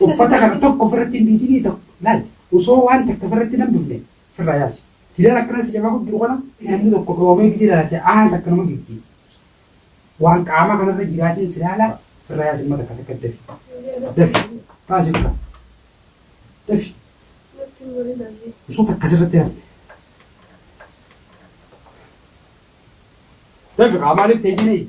Uffata kana tokko ofirratti hin dhiisinii ta'u laal osoo waan takka ofirratti hin hambifne ofirraa yaasi. Hidhaan akkana si jabaa jiru kana namni tokko dhoomee gisee ilaalate aan takka nama gifti. Waan qaamaa kanarra jiraatiin si laala ofirraa yaasi amma takka takka dafi. Dafi. Baasi ofirraa. Dafi. Osoo takka asirratti hin hafne. Dafi qaamaa dhibte isin eegi.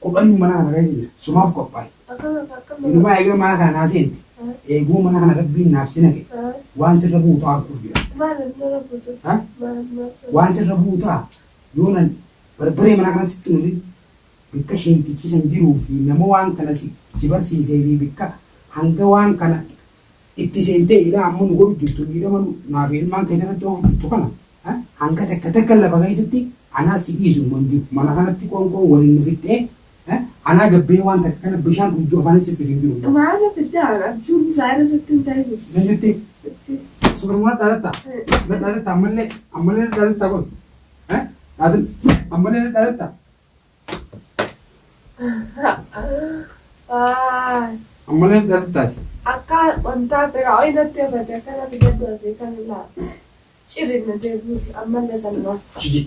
Kophanii mana kana keessa jira. Sumaaf qophaa'i. Inumaa eega mana kana naa seente, eeguma mana kana Rabbiin naaf si naqe, waan sirra bu'u ta'a arguuf jira. Waan sirra bu'u ta'a yoo nan barbaree mana kana sitti hin hafin bikka sheeytichi san jiruu fi nama waan kana si barsiisee fi bikka hanga waan kana itti seentee ilaa amma nu godhu jirtu miidhama naa fi ilmaan kee tanatti oofu jirtu kana hanga takka takka lafa keessatti anaa si dhiisu hin jiru mana kanatti qoonqoon waliin nu fixxee anaa gabbee waan takka kana bishaan dhugdu afaanin si fidu hin jiru. Maala fiddaan abjuun isaa irra sitti hin ta'in. Ni sitti. Sitti. Suurummaa dhaalatta. Dhaalatta ammallee ammallee dhaalatta kun. Dhaalatta ammallee dhaalatta. Ammallee dhatti taate. Akka wantaa biraa ooyi natti yoo taate akka natti gaddu asii kan ilaa. Cirri na deebi'uuf ammallee salmaa. Jiji.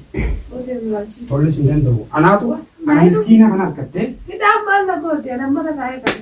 Ootee muraachii. Tollis hin danda'u. Anaatu ana miskiina kana harkattee Hidhaan maal na goote? Ana mana kaa'ee qabu.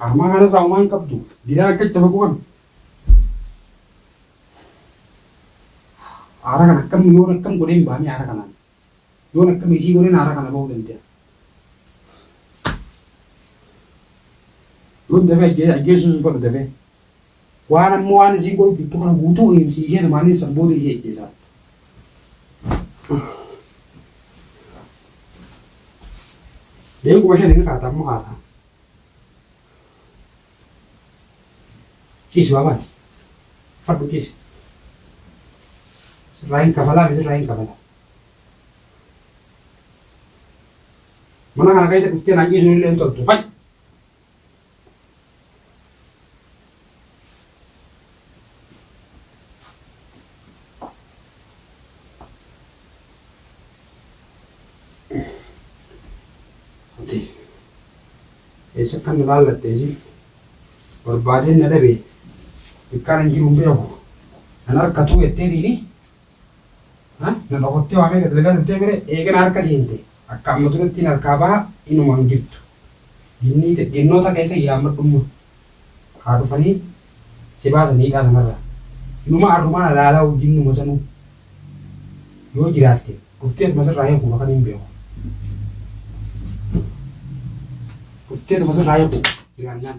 Amma kana irraa waan qabdu gidaa akka itti bagu qabdu. Aara kana akkam yoon akkam godhee hin baane aara kanaan. Yoon akkam isii godheen aara kana bahuu danda'a. Yoon dafee ajjeessuus hin fedhu dafee. Waan amma waan isiin godhu jirtu kana guutuu himsiisee tumaaniin san booda isii ajjeesaa. Deebii kuma shan hin kaata amma kaata. Ciisi baabaati. Fadhu ciisi. Sirraa hin kafalaa fi sirraa hin kafalaa. Mana kana keessa dhuftee naan ciisuun illee hin toltu. Fayyi. Eessa kan na laallatte ishee barbaadeen na dhabe dukkaan hin jiru hin beeku nan harkatu jettee dhiiri Nama kottee waamee gad lagaa turtee mire eegana harka seente akka amma durattiin harkaa baha inuma hin jirtu. Ginniite ginnoota keessa yaammadhumma. Haa dhufanii si baasan hidhaa sanarraa. Inuma arrumaan alaalaa ginnuma sanuu. Yoo jiraatte dhufteetuma sirraa hiikuuf akkan hin beeku. Dhufteetuma sirraa hiikuuf jiraannaan.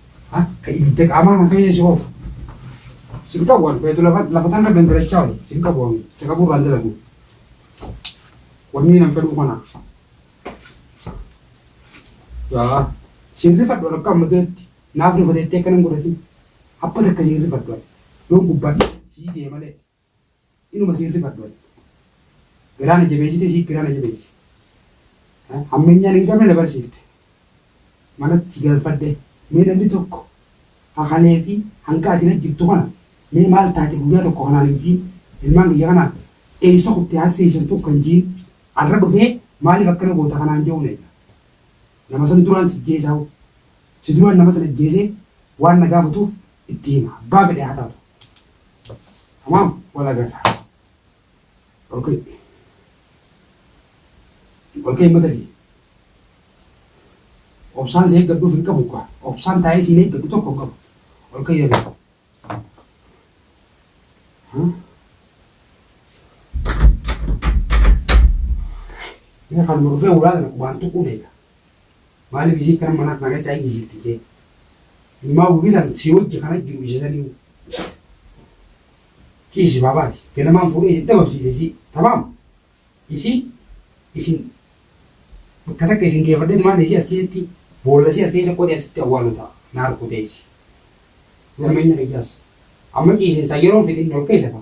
Akka ibidda qaamaa kan keessa si oofu. Sin qabu waan feetu lafa lafa tanna gangalachaa oole. Sin qabu waan isa qabu irraan dalagu. Wanni nan fedhu kana. Yaa sin rifadhu akka amma duratti naaf rifateetti akka nan godhatin. Abba takka sin rifadhu. Yoon gubbaa sii deemalee. Inuma siin rifadhu ani. Garaa na jabeessite isiis garaa na jabeessi. Hammeenyaan hin qabne na barsiifte. Manatti galfadhe mee namni tokko hakalee fi hanga ati na jirtu kana mee maal taate guyyaa tokko kanaan hin jiin ilmaan kiyya kanaan eessa kutte haati teessan tun kan jiin arra dhufee maaliif akkana goota kanaan jedhu na eega. Nama san duraan si jeesaa hoo si duraan nama san ajjeesee waan na gaafatuuf itti hima abbaa fedhe haa taatu. Tamam, wal agarra. Okay. Wal ka'e mata kee. Obsaan si eeggadhuuf hin qabu kaa. Obsaan taa'ee siin eeggadhu tokko hin qabu. Wal ka'e yeroo. Mee kan dhufee ulaa kana waan tuquu beeka. Maalif isii kana mana kana keessa ayi jijirti kee ilmaa ofii san si wajji kana jiru isa saniu dhiisi baabaati ganamaan fuudhee isin dhabamsiise isii tamaam isii isin bakka takka isin geeffadheetu maal isii as keessatti boolla isii as keessa qodee asitti awwaalu ta'a naar kutee isii garmeenya kiyyaas amma ciisinsaa yeroon fixin ol ka'e lafa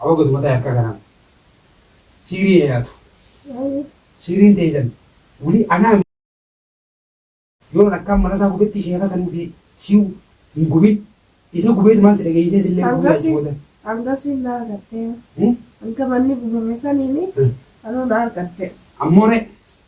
Awa gadu mataa harkaa kanaan. Siirii eeyaatu. Siiriin teeysan. Wuli anaa. Yoon akkaan mana isaa gubetti sheeka san ufii siu hin gubin. Isa gubeeti maal si dhageeysee sillee gubuu yaa sibooda. Hanga siin na argattee. Hanga manni gubame saniini anuu na argattee. Ammoo ree.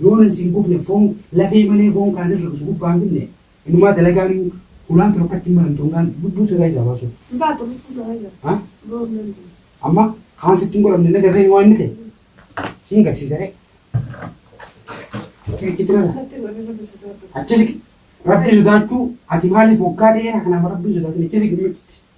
Yoo nan sin gubne foon lafee malee foon kan asin rakkisu gubbaa hin finne inumaa dalagaan hulaan tun akkatti hin maramtu hangaan lubbuu sirraa isaa baasuuf. Hin baatu lubbuu sirraa isaa. Ha? Biroo hin dandeenye. Amma kaan sitti hin godhamne na garreen waan inni ta'e siin garsiisa ree. Achi achitti nana. Natti hin godhe rabbi sodaadhu. Achis rabbi sodaachuu ati maaliif waggaa dheeraa kanaaf rabbi sodaachuu achis gimmitti.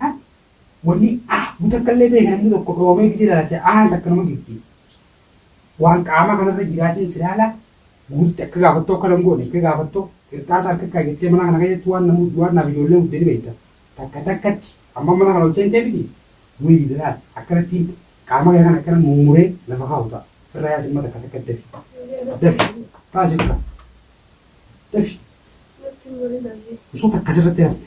Ha? Wanni A bu takka illee beekan inni tokko dhoomee gisee lalatte A takka nama gifti. Waan qaamaa kanarra jiraatiin si laala guurti akka gaafattoo akka nan goone akka gaafattoo qirxaasa harka kaa jettee mana kana keessatti waan namu waan naaf ijoollee guddee ni beekta. Takka takkatti amma mana kana ol seentee miti wayii dalaal akkanatti qaama kee kan akkana mummuree lafa kaa'u ta'a. Firra yaa simma takka takkatti dafi. Dafi. Kaasi firra. Dafi. Osoo takka sirratti hafte.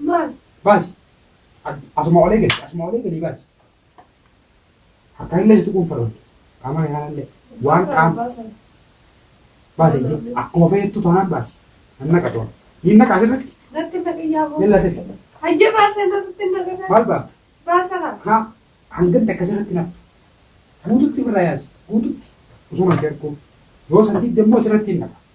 Maal? Baasi. Asuma olee gadi. Asuma olee gadi baasi. Akka illee situ quunfaroon. Qaama kanaa illee. Waan qaama. Baasi. Akkuma fayyadtu taanaan baasi. Nan naqa toon. Niin naqa asirratti. Natti naqiyyaa boo. Yalla tefi. Hayyee baasee natti naqata. Maal baafta? Baasara. Haa. Hangatti akkasirratti nafa. Guututti birraa yaasi. Guututti. Osoo namti argu. Yoo sandiidde immoo asirratti hin naqa.